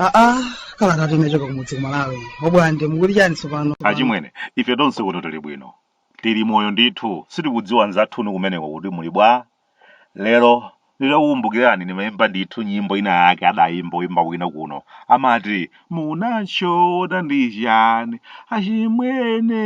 aa kalatatu inachoka kumudzi kumalawi oBwande mukuti chani tsopano achimwene ife tonse kuno tili bwino tili moyo ndithu sitikudziwa nzathunu kumeneko kuti muli bwa Lero ndidakukumbukirani ndimaimba ndithu nyimbo ina yake adaimba oimba wina kuno amati munatchona ndi chani achimwene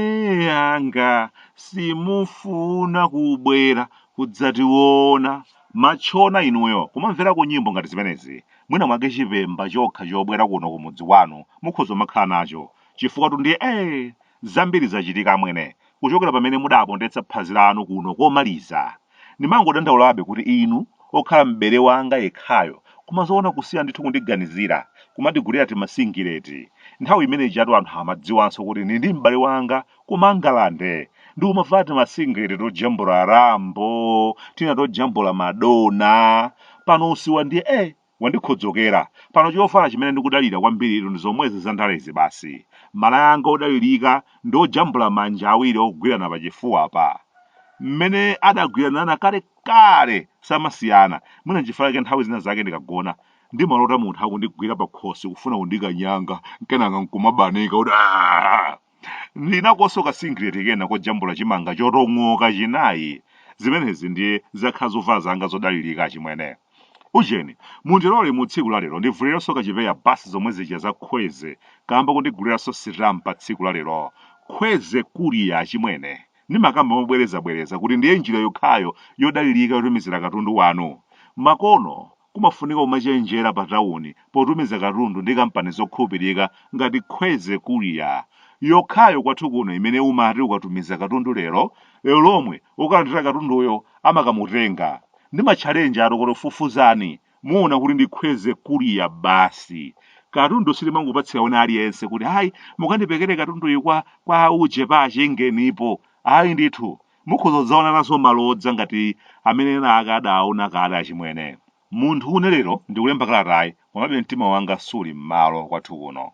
anga simufuna kubwera kudzationa matchona inuyo kumamverako nyimbo ngati zimenezi mwina mwake chipemba chokha chobwera kuno kumudzi kwanu mukhoza umakhala nacho chifukwatu ndiye ee zambiri zachitika amwene kuchokera pamene mudapondetsa phazi lanu kuno komaliza. Ndimangodandaulabe kuti inu, okhala m'bale wanga yekhayo, koma zoona kusiya ndithu kundiganizira, kumandigulira timasingileti. Nthawi imene ijatu anthu amadziwanso kuti ndili ndi m'bale wanga ku Mangalande. Ndikumavala timasingileti tojambula Rambo, tina tojambula Madonna. Pano usiwa ndiye eh! Wandikhodzokera. Pano chovala chimene ndikudalira kwambiritu ndi zomwezi za ndalezi basi. Malaya anga odalirika ndi ojambula manja awiri ogwirana pachifuwapa. Mmene adagwiranana kalekale samasiyana. Mwina nchifukwa chake nthawi zina zake ndikagona, ndimalota munthu akundigwira pakhosi kufuna kundikanyanga, kenaka nkumabanika kuti aah! ndi nakonso kasingileti kena kojambula chimanga chotong'oka chinayi zimenezi ndiye zakhala zovala zanga zodalirika achimwene ujeni mundilole mu tsiku la lero ndivuliranso kachipeya basi zomwe zija za khweze kamba kundiguliranso sitampa tsiku la lero khweze courier achimwene ndimakamba mobwerezabwereza kuti ndiye njira yokhayo yodalirika yotumizira katundu wanu makono Kumafunika kumachenjera pa tawuni potumiza katundu ndi kampani zokhulupirika ngati Khweze Courier, yokhayo kwathu kuno imene umati ukatumiza katundu lero, lero lomwe wokalandira katunduyo amakamutenga. Ndimatchalenjatu kuti fufuzani, muona kuti ndi Khweze Courier basi. Katundu sitimangopatsira wina aliyense kuti, Ayi, mukandipekere katunduyu kwa, kwa uje pa chingenipo. Ayi ndithu, Mukhoza kudzaona nazo malodza ngati amene ena ake adaaona kale achimwene. Munthu une lero ndikulemba kalatayi, komabe mtima wanga suli m'malo kwathu kuno.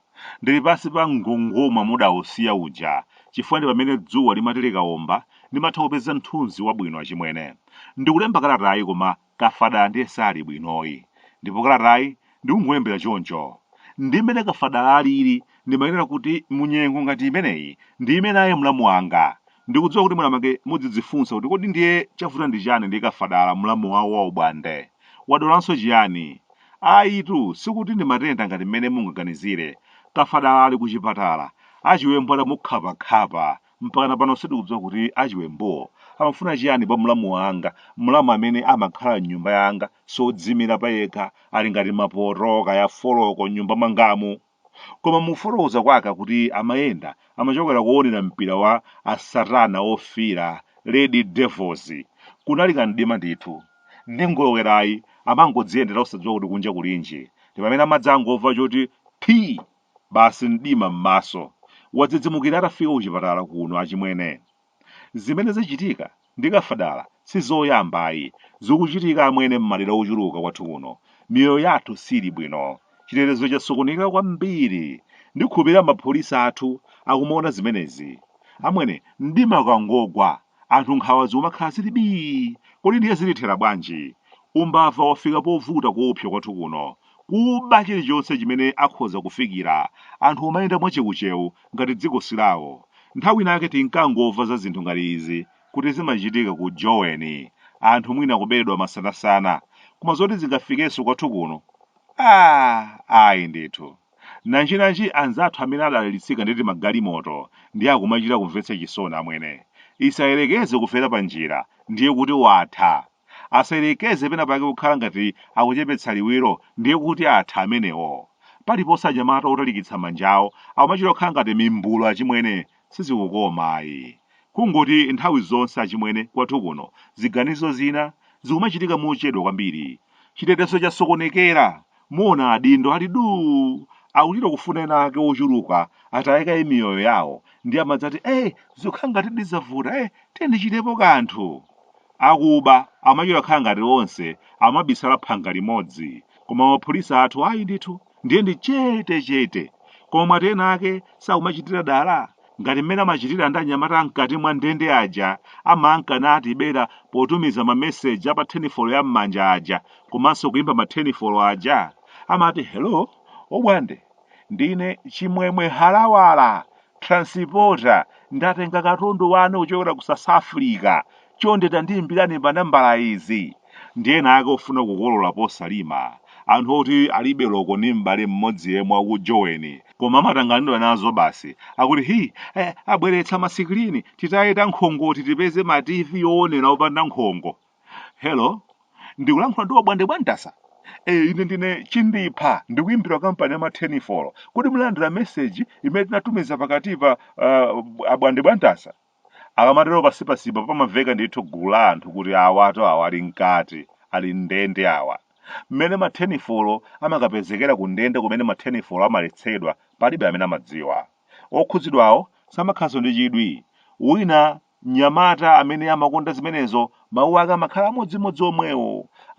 Ndili pansi pa mgongoma mudausiya uja, chifukwa ndi pamene dzuwa limati likaomba, ndimatha kupeza mthunzi wabwino achimwene. Ndikulemba kalatayi koma Kafadala ndiye sali bwinoyi ndipo kalatayi ndikungolembera choncho. Ndi mmene Kafadala alili ndimayenera kuti mu nyengo ngati imeneyi ndiime naye mlamu wanga. Ndikudziwa kuti mwinamwake mudzidzifunsa kuti kodi ndiye chavuta ndi chani ndi Kafadala mlamu wawo wa ubwande? Wadwalanso chiyani? Ayitu sikuti ndi matenda ngati mmene mungaganizire. Kafadala ali kuchipatala, achiwembu atamukhapa khapa Mpakana pano sitikudziwa kuti a chiwembuwo amafuna chiyani pa mlamu wanga, mlamu amene amakhala m'nyumba yanga, sodziimira payekha, ali ngati mapoto, kaya foloko, m'nyumba mwangamu. Koma mukufotokoza kwake akuti amayenda, amachokera koonera mpira wa a satana ofiira, Red Devils. Kunali ka mdima ndithu. Ndi ngolowerayi, amangodziyendera osadziwa kuti kunja kulinji. Ndipamene amadzangomva choti phii! Basi mdima mmaso. Wadzidzimukira atafika kuchipatala kuno achimwene. Zimene zachitika ndi Kafadala sizoyamba ayi. Zikuchitika amwene mmadera ochuluka kwathu kuno. Miyoyo yathu sili bwino. Chitetezo chasokoneka kwambiri. Ndikhulupirira mapholisa athu akumaona zimenezi. Amwene, mdima ukangogwa Anthu nkhawa zikumakhala zili bii! Kodi ndiye zilithera bwanji? Umbava wafika povuta koopsa kwathu kuno. Kuba chilichonse chimene akhoza kufikira. Anthu kumayenda mwachewuchewu ngati dziko si lawo. Nthawi inake tinkangomva za zinthu ngati izi kuti zimachitika ku Joweni. Anthu mwina kuberedwa masanasana. Koma zoti zingafikenso kwathu kuno? Aaa! Ayi ndithu. Nanjinanji anzathu amene adalitsika ndi timagalimoto ndiye akumachita kumvetsa chisoni amwene. Isayerekeze kufera panjira ndiye kuti watha. Asayerekeze pena pake kukhala ngati akuchepetsa liwiro ndiye kuti atha amenewo. Paliponse anyamata otalikitsa manjawo akumachita kukhala ngati mimbulu achimwene sizikukoma ayi. Kungoti nthawi zonse achimwene kwathu kuno ziganizo zina zikumachitika mochedwa kwambiri. Chitetezo chasokonekera Muona adindo ali duu! Akuchita kufuna ena ake ochuluka ataye kaye miyoyo yawo ndiye amadzati eh zikukhala ngatidi zavuta eh tiyeni tichitepo kanthu. Akuba amachita kukhala ngati onse amabisala phanga limodzi koma mapolisa athu ayi ndithu ndiye ndi chetechete. Koma mwati ena ake sakumachitira dala? ngati mmene amachitira ndi anyamata mkati mwa ndende aja amankanatibera potumiza mameseji a pa tenifolo ya m'manja aja komanso kuimba matenifolo aja amati hello obwande ndine chimwemwe halawala transporter ndatenga katundu wanu kuchokera ku south africa Chonde tandiimbirani pa nambala izi ndi ena ake ofuna kukolola posalima, anthu oti alibe loko ndi m'bale mmodzi yemwe wa ku Joweni koma amatanganidwa nazo basi akuti hi eh abweretsa ma sikilini titaye ta nkhongoti tipeze ma TV owonera opanda nkhongo. Hello? Ndikulankhula ndi Wabwande Bwantasa? Eh ine ndine Chindipha ndikuimbira kampani ya ma thenifolo. Kodi munalandira meseji imene tinatumiza pakatipa ah, Abwande Bwantasa? Akamatero pasipasipa pamamveka ndithu gulu la anthu kuti awatu awa ali mkati, ali m'ndende awa. Mmene ma thenifolo amakapezekera kundende kumene ma thenifolo amaletsedwa palibe amene amadziwa. Okhudzidwawo samakhalanso ndi chidwi. Wina, mnyamata amene amakonda zimenezo, mawu ake amakhala amodzimodzi omwewo.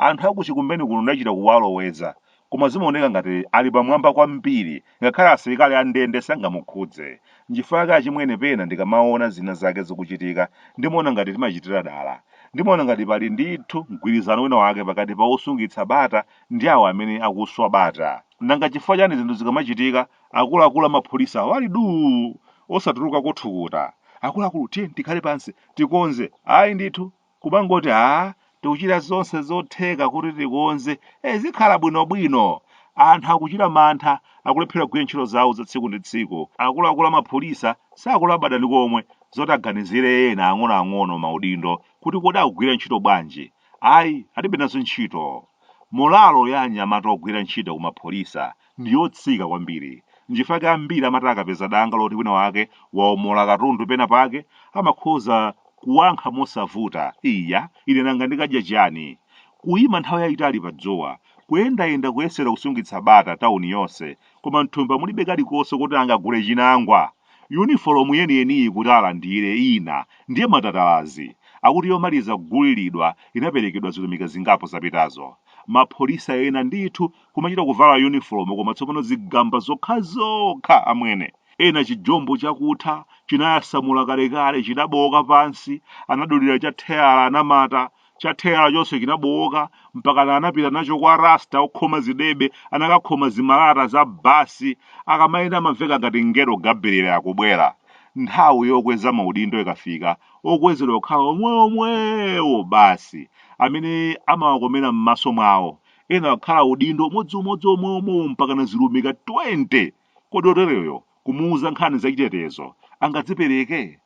Anthu a ku Chikumbeni kuno ndachita kuwaloweza. Koma zimaoneka ngati ali pamwamba kwambiri, ngakhale asilikali a ndende sangamukhudze. Nchifukwa chake achimwene pena ndikamaona zinazake zikuchitika, ndimaona ngati timachitira dala. Ndimaona ngati pali ndithu mgwirizano wina wake pakati pa osungitsa bata ndi awo amene akuswa bata. Nanga chifukwa chani zinthu zikamachitika akuluakulu amapholisa ali duu! osatulukako thukuta? Akuluakulu tiyeni tikhale pansi, tikonze. Ayi ndithu! kumangoti aah tikuchita zonse zotheka kuti tikonze, eh zikhala bwinobwino. Anthu akuchita mantha, akulephera kugwira ntchito zawo za tsiku ndi tsiku. Akuluakulu a mapholisa sakulabada ndi komwe zoti aganizire ena ang'onoang'ono maudindo kuti kodi akugwira ntchito bwanji. Ayi, alibe nazo ntchito. Molalo ya anyamata ogwira ntchito ku mapholisa ndi yotsika kwambiri. N'chifukwa chake ambiri amati akapeza danga loti winawake wawomola katundu penapake, amakhoza kuwankha mosavuta, Iya, ine nanga ndikadya chiyani? Kuima nthawi yaitali padzuwa, kuyendayenda kuyesera kusungitsa bata tauni yonse, koma m'thumba mulibe kalikonse kuti angagule chinangwa! Yunifolomu yeniyeniyi kuti alandire ina ndiye matatalazi! Akuti yomaliza kuguliridwa inaperekedwa zilumika zingapo zapitazo. Mapholisa ena ndithu kumachita kuvala yunifolomu koma tsopano zigamba zokhazokha amwene ena chijombo chakutha chinayasamula kalekale chinabowoka pansi anadulira cha theyala anamata cha theyala chonse chinabowoka mpakana anapita nacho kwa rasta okhoma zidebe anakakhoma zimalata za basi akamayenda amamveka ngati mngelo gabuliyele akubwera nthawi yokweza maudindo ikafika okwezedwa kukhala omwewomwewo basi amene amawakomera m'maso mwawo ena akhala udindo umodziumodzi omwewomwewo mpakana zilumika 20 kodi otereyo kumuuza nkhani zachitetezo angadzipereke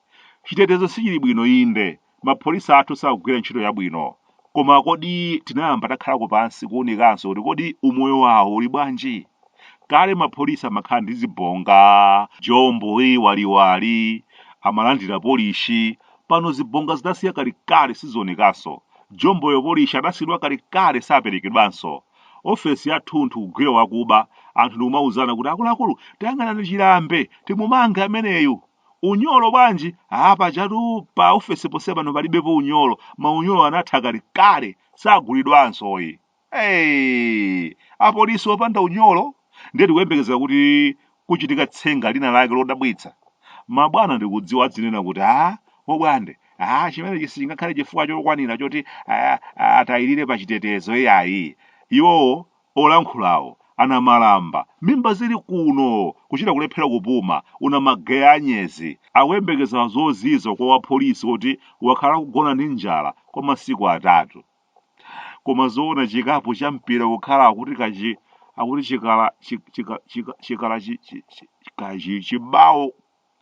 chitetezo sichili bwino inde mapholisa athu sakugwira ntchito yabwino koma kodi tinayamba takhalako pansi kuunikanso kuti kodi umoyo wawo uli bwanji Kale mapholisa amakhala ndi zibonga, jombo waliwali, amalandira polishi, pano zibonga zidasiya kalekale sizionekanso, jomboyo polishi adasiyidwa kalekale saperekedwanso, office yathunthu kugwira wakuba, anthu ndikumauzana kuti akuluakulu tayang'anani Chirambe timumange ameneyu. Unyolo bwanji? Aaa pajatu pa office ponse pano palibepo unyolo, maunyolo anatha kalekale sagulidwansoyi. Hey! Apolisi opanda unyolo ndiye tikuyembekezera kuti kuchitika tsenga lina lake lodabwitsa. Mabwana ndikudziwa adzinena kuti a obwande a chimenechi sichingakhale chifukwa chokwanira choti a- a- atayirire pa chitetezo iyayi. Iwowo olankhulawo anamalamba mimba zili kuno kuchita kulephera kupuma una mageya anyezi akuyembekeza zozizwa kwa wapolisi oti wakhala akugona ndi njala kwa masiku atatu. koma zoona chikapu cha mpira kukhala akuti kachi akuti chikala chi- chika- chika- chikala chi- chi- chi- kachi chibawo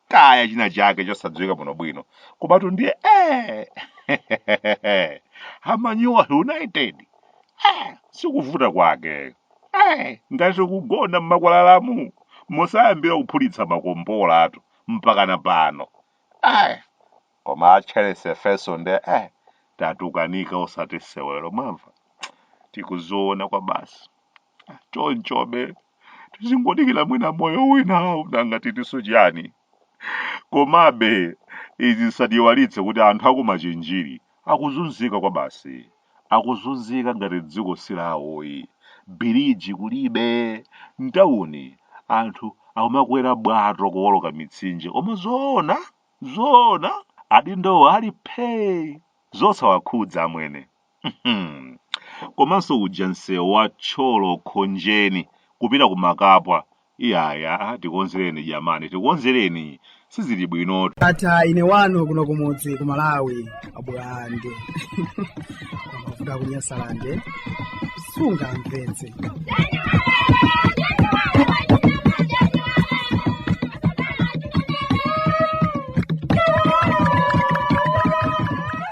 kaya china chake chosadziwika bwino bwino komatu ndiye eh a Manyuwa United eh sikuvuta kwake eh ngati kugona mmakwalalamu mosayambira kuphulitsa makombolatu mpakana pano eh koma a Charles Efeso nde eh tatukanika osati sewero mwamva tikuziona kwabasi chonchobe tizingodikira mwina moyo winawu nanga titinso chiyani komabe izi zisatiiwalitse kuti anthu aku Machinjiri akuzunzika kwabasi akuzunzika ngati dziko silawoyi biriji kulibe mtawuni anthu akumakwera bwato kuwoloka mitsinje koma zoona zoona adindowo ali phee zosawakhudza amwene Mhm. komanso uja msewu wa Thyolo Khonjeni kupita ku Makapwa iyaya tikonzereni jamani tikonzereni sizili bwinotu Ndatha ine wanu kuno kumudzi ku Malawi. abulande kuvuga kunyasalande sungamvetse